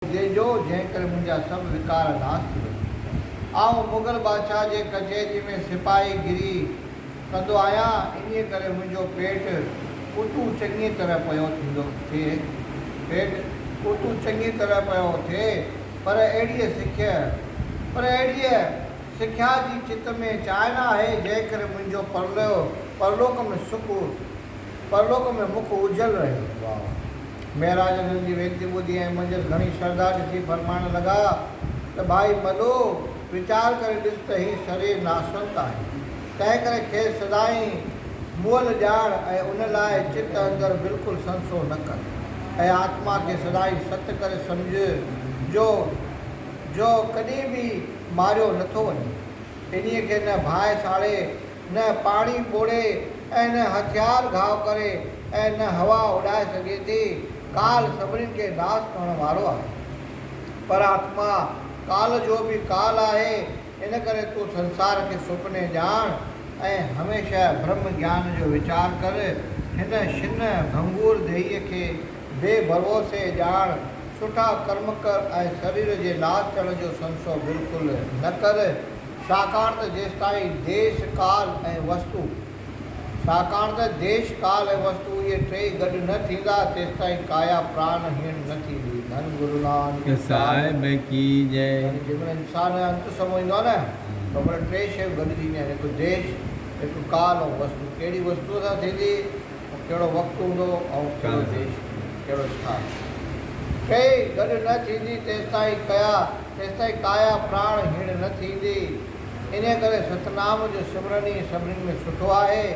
جي جو جنهن ڪري منهنجا سڀ وقار ناس ٿي وڃن. آئون مغل بادشاهه جي ڪچهري ۾ سپاهي گري ڪندو آهيان، انهيء ڪري منهنجو پيٽ اتو چڱيء طرح پيو ٿيندو اٿئي. پيٽ اتو چڱيء طرح پيو اٿئي، پر اهڙيء سکيء، پر اهڙيء سکيا جي چت ۾ چانء نه آهي، جنهن ڪري منهنجو پرلوڪ ۾ سک پرلوڪ ۾ مک اجهل رهيو. واء مهراج انهن جي وينتي ٻڌي ۽ منجهس گهڻي شرڌا ڏسي فرمائڻ لڳا ته ڀائي مڏو! ويچار ڪري ڏس ته هي سري ناسنت آهي، تنهن ڪري کيس سدائين مئل ڄاڻ ۽ ان لاء چت اندر بلڪل سنسو نه ڪر ۽ آتما کي سدائين ست ڪري سمجهه جو جو ڪڏهن به ماريو نٿو وڃي. انهيء کي نه ڀائي ساڙي نه پاڻي پوڙهي ۽ نه هٿيار گهاء ڪري ۽ نه هوا اڏائي سگهي ٿي. ڪال سڀني کي ناس ڪرڻ وارو آهي. پر آتما ڪال جو به ڪال آهي، ان ڪري تون سنسار کي سپني ڄاڻ ۽ هميشه برهم گيان جو ويچار ڪر. هن شن ڀنگور ديهي کي بي ڀروسي ڄاڻ، سٺا ڪرم ڪر ۽ سرير جي ناس ٿيڻ جو سنسو بلڪل نه ڪر. ڇاڪاڻ ته جيستائين ديش، ڪال ۽ وستو ڇاڪاڻ ته ديش، ڪال ۽ وستو اهي ٽيئي گڏ نه ٿيندا، تيستائين ڪايا پراڻ هيڻ نه ٿيندي. ڌن گرو نانڪ صاحب ڪي جئي. يعني جيمهل انسان انت سمو ايندو آهي نه ته اومهل ٽي شيون گڏجي اينديون آهن، هڪ ديش، هڪ ڪال ۽ وستو. ڪهڙي وستوء سان ٿيندي؟ هو ڪهڙو وقت هوندو ۽ ڪهڙو ديش، ڪهڙو اسٿان. ٽيئي گڏ نه ٿيندي تيستائين ڪيا، تيستائين ڪايا پراڻ هيڻ نه ٿيندي. انهيء ڪري ستنام جو سمرن ئي سڀني ۾ سٺو آهي.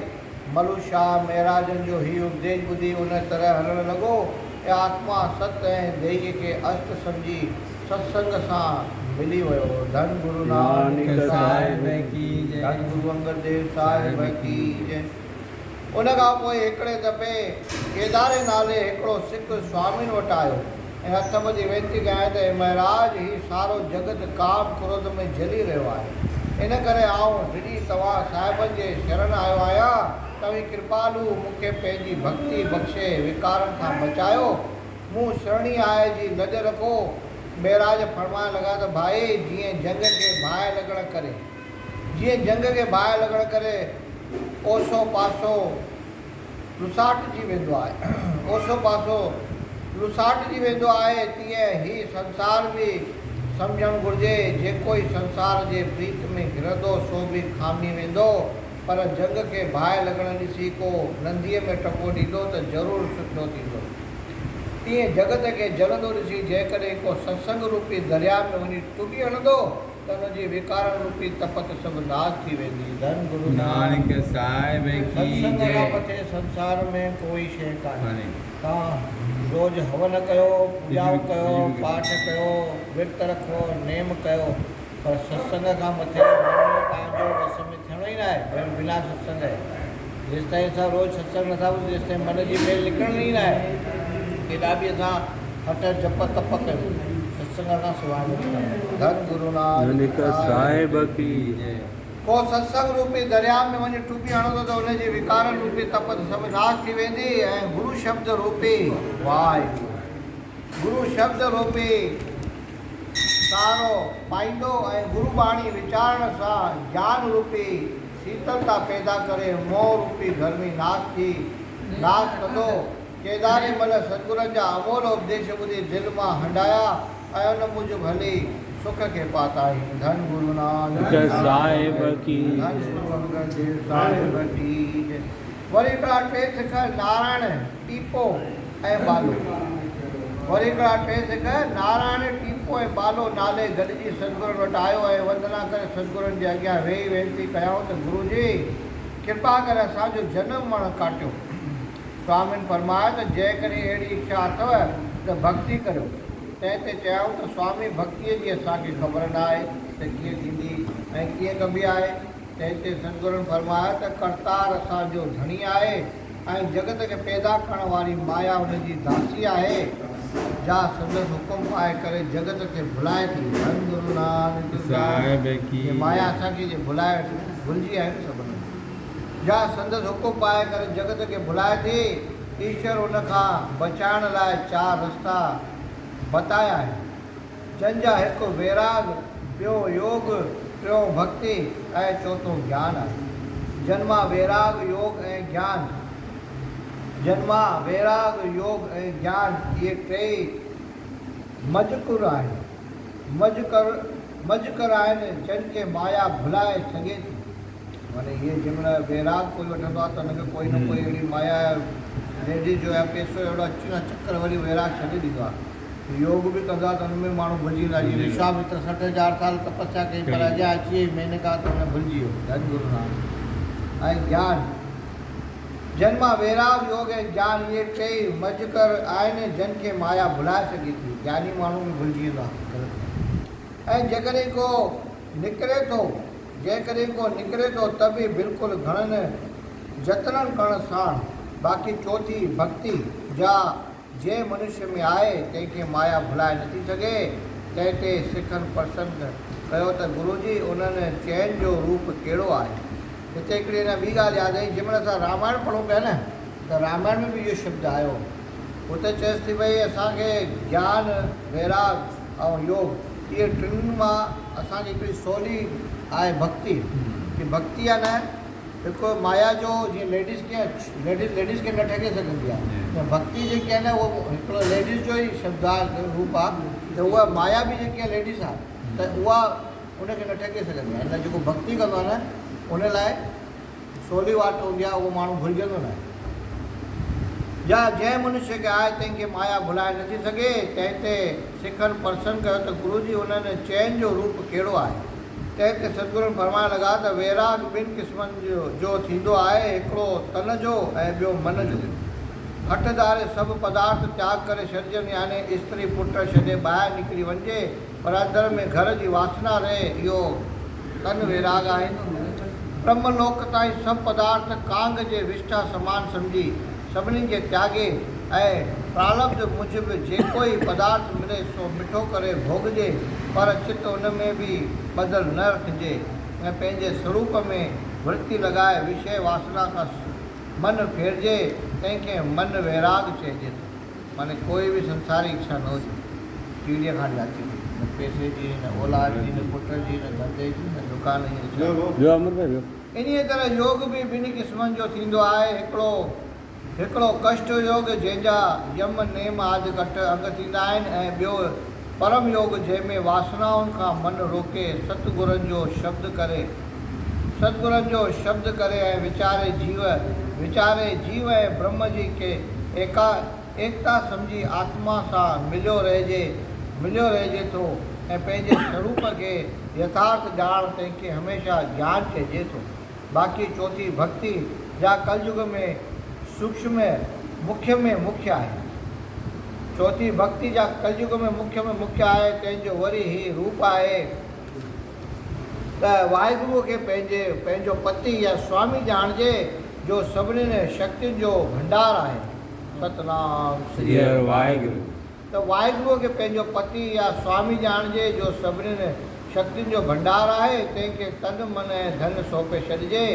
ملو شاهه مهراجن جو هي اپديش ٻڌي ان طرح هلڻ لڳو ته آتما ست ۽ ديهيء کي است سمجهي ست سنگ سان ملي ويو. ڌن گرو نانڪ صاحب ڪي جي. ڌن گرو انگد ديو صاحب ڪي جي. ان کان پوء هڪڙي دفعي ڪيداري نالي هڪڙو سک سوامين وٽ آيو ۽ هٿ ٻڌي وينتي ڪيائين ته اي مهراج هي سارو جڳت ڪام ڪروڌ ۾ جلي رهيو آهي ان ڪري آئون ڊڄي توهان صاحبن جي شرن آيو آهيان توهين ڪرپالو مون کي پنهنجي ڀڳتي بخشي وڪارن کان بچايو مون شرڻي آء جي لڄ رکو مهراج فرمائڻ لڳا ته ڀائي جيئن جنگ کي باهه لڳڻ ڪري. جيئن جنگ کي باهه لڳڻ ڪري اوسو پاسو لساٽجي ويندو آهي اوسو پاسو لساٽجي ويندو آهي تيئن هي سنسار به سمجهڻ گهرجي جيڪوئي سنسار جي پريت ۾ گهرندو سو به کامي ويندو پر جنگ کي باهه لڳڻ ڏسي ڪو ننديء ۾ ٽپو ڏيندو ته ضرور سٺو ٿيندو تيئن جڳت کي جلندو ڏسي جيڪڏهن ڪو ستسنگ روپي درياء ۾ وڃي ٽٻي هڻندو ته ان جي ويڪارڻ روپي تپ تي سڀ ناس ٿي ويندي. ڌن گرو نانڪ صاحب ڪي جي. ستسنگ کان مٿي سنسار ۾ ڪوئي شيء ڪانهي. توهان روز هون ڪيو، پوڄائون ڪيو، پاٺ ڪيو، ورت رکو، نيم ڪيو، پر ستسنگ کان مٿي ماڻهوء تان جو وس ۾ ٿيڻو ئي ناهي، ڄڻ بنا ستسنگ ئي. جيستائين اسان روز ستسنگ نٿا ٻڌون تيستائين من جي ميل نڪرڻ ئي ناهي. ڪيڏا به اسان هٺ جپ تپ ڪيون ستسنگ کان سواء نٿو وڻي. ڌن گرونانڪ صاحب ڪي جي. ڪو ستسنگ روپي درياء ۾ وڃي ٽٻي هڻو ٿو ته ان جي وڪارن روپي تپ ته سڀ ناس ٿي ويندي ۽ گرو شبد روپي واهه گرو شبد روپي سهارو پائيندو ۽ گرو ٻاڻي ويچارڻ سان جان روپي سيتلتا پيدا ڪري موهه روپي گرمي ناس ٿي ناس ڪندو. ڪيداري مل ستگرن جا امول اپديش ٻڌي دل مان هنڊايا ۽ ان موجب هلي سک کي پاتائين. ڌن گرو نانڪ صاحب ڪي جي. ڌن گرو انگد ديو صاحب ڪي جي. وري ٻيا ٽي سک نارائڻ ٽيپو ۽ بالو، وري هڪڙا ٽي سڳ نارائڻ، ٽيپو ۽ بالو نالي گڏجي سدگرن وٽ آيو ۽ وندنا ڪري سدگرن جي اڳيان ويهي وينتي ڪيائون ته گرو جي! ڪرپا ڪري اسان جو جنم مڙڻ ڪاٽيو. سوامين فرمايو ته جيڪڏهن اهڙي اکيا اٿو ته ڀڳتي ڪريو. تنهن تي چيائون ته سوامي ڀڳتيء جي اسان کي خبر نه آهي ته ڪيئن ٿيندي ۽ ڪيئن ڪبي آهي. تنهن تي سدگرن فرمايو ته ڪرتار اسان جو ڌڻي آهي. ۽ جڳت کي پيدا ڪرڻ واري مايا ان جي داسي آهي، جا سندس حڪم پائي ڪري جڳت کي ڀلائي ٿي. ڌن گرو نانڪ صاحب ڪي. جي مايا اسان کي جي ڀلائي ويٺي، ڀلجي آهيون سڀ ان کان. جا سندس حڪم پائي ڪري جڳت کي ڀلائي ٿي. ايشور ان کان بچائڻ لاء چار رستا بتايا آهن. جن جا هڪ ويراڳ، ٻيو يوڳ، ٽيون ڀڳتي ۽ چوٿون گيان آهي. جن مان ويراڳ، يوڳ ۽ گيان جن مان ويراڳ، يوڳ ۽ گيان اهي ٽيئي مجهڪر آهن. مجهڪر مجهڪر آهن جن کي مايا ڀلائي سگهي ٿي. معنيٰ اهي جنهن مهل ويراڳ ڪوئي وٺندو آهي ته ان کي ڪوئي نه ڪوئي اهڙي مايا ليڊيز جو يا پيسو اهڙو اچي وڃي چڪر وري ويراڳ ڇڏي ڏيندو آهي. يوگ به ڪندا ته ان ۾ ماڻهو ڀلجي ويندا جيئن وشوامتر سٺ هزار سال تپسيا ڪئي پر اجيا اچي وئي مينڪا ته ان ڀلجي ويو ڌن گرو نانڪ ۽ گيان جن مان ويراڳ يوگ ۽ گيان اهي ٽي مج ڪر آهن جن کي مايا ڀلائي سگهي ٿي گياني ماڻهو به ڀلجي ويندو آهي غلط ڪم ۽ جيڪڏهن ڪو نڪري ٿو جيڪڏهن ڪو نڪري ٿو ته به بلڪل گهڻن جتنن ڪرڻ ساڻ باقي چوٿي ڀڳتي جا جنهن منشيء ۾ آهي، تنهن کي مايا ڀلائي نٿي سگهي. تنهن تي سکن پرسن ڪيو ته گرو جي، انهن چئن جو روپ ڪهڙو آهي؟ هتي هڪڙي اڃا ٻي ڳالهه ياد آئي، جنهن مهل اسان رامائڻ پڙهون پيا نه، ته رامائڻ ۾ به اهو شبد آيو. هتي چيس ٿي ڀئي اسان کي گيان، ويراڳ ۽ يوڳ، اهي ٽن مان اسان کي هڪڙي سولي آهي ڀڳتي. هي ڀڳتي آهي نه، هڪ مايا جو جيئن ليڊيز ڪيئن ليڊيز ليڊيز کي نه ٺڳي سگهندي آهي تيئن ڀڳتي جيڪي آهي نه اهو هڪڙو ليڊيز جو ئي شبد آهي روپ آهي ته اها مايا به جيڪي آهي ليڊيز آهي ته اها ان کي نه ٺڳي سگهندي آهي ان لاء جيڪو ڀڳتي ڪندو آهي نه ان لاء سولي واٽ هوندي آهي اهو ماڻهو ڀلجندو نه آهي جا جنهن منشي کي آهي تنهن کي مايا ڀلائي نٿي سگهي تنهن تي سکن پرسن ڪيو ته گرو جي انهن چئن جو روپ ڪهڙو آهي؟ تنهن تي سدگرن فرمائڻ لڳا ته ويراڳ ٻن قسمن جو ٿيندو آهي، هڪڙو تن جو ۽ ٻيو من جو. هٺ ڌاري سڀ پدارٿ تياڳ ڪري ڇڏجن يعني استري پٽ ڇڏي ٻاهر نڪري وڃجي پر اندر ۾ گهر جي واسنا رهي اهو تن ويراڳ آهن. برهملوڪ تائين سڀ پدارٿ ڪانگ جي وشٺا سمان سمجهي. سڀني کي تياڳي ۽ پرالبڌ موجب جيڪو ئي پدارٿ ملي سو مٺو ڪري ڀوڳجي پر چت ان ۾ به ٻڌل نه رکجي ۽ پنهنجي سروپ ۾ ورتي لڳائي وشيه واسنا کان من ڦيرجي تنهن کي من ويراڳ چئجي ٿو معني ڪوئي به سنساري اڇا نه هجي ٽيڙي کان جاتي هجي نه پئسي جي نه اولاد جي نه پٽ جي نه ڌنڌي جي نه دڪان جي نه ڇا انهيء طرح يوگ به ٻنهي قسمن جو ٿيندو آهي، هڪڙو هڪڙو ڪشٽ يوگ جنهن جا يم، نيم آد ڪٽ انگ ٿيندا آهن ۽ ٻيو پرم يوگ جنهن ۾ واسنائن کان من روڪي ست گرن جو شبد ڪري ست گرن جو شبد ڪري ۽ ويچاري جيو ويچاري جيو ۽ برهمه جي ڪي ايڪا ايڪتا سمجهي آتما سان مليو رهجي، مليو رهجي ٿو ۽ پنهنجي سروپ کي يٿارٿ ڄاڻڻ تنهن کي هميشه جيان چئجي ٿو. باقي چوٿين ڀڳتي جا ڪليوگ ۾ سوڪشم ۾ مکيه ۾ مکيه آهي. چوٿين ڀڳتي جا ڪليوگ ۾ مکيه ۾ مکيه آهي تنهن جو وري هي روپ آهي ته واحگروء کي پنهنجي پنهنجو پتي يا سوامي ڄاڻجي جو سڀنين شڪتين جو ڀنڊار آهي. ستنام سري هر واحگرو. ته واحگروء کي پنهنجو پتي يا سوامي ڄاڻجي جو سڀنين شڪتين جو ڀنڊار آهي، تنهن کي تن، من ۽ ڌن سونپي ڇڏجي،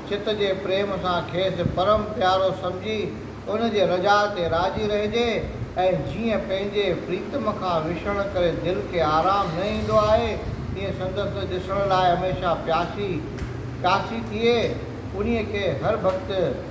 چت جي پريم سان کيس پرم پيارو سمجهي ان جي رجاء تي راضي رهجي ۽ جيئن پنهنجي پريتم کان وڇڙڻ ڪري دل کي آرام نه ايندو آهي تيئن سندس ڏسڻ لاء هميشه پياسي پياسي ٿئي، انهيء کي هر ڀڳت.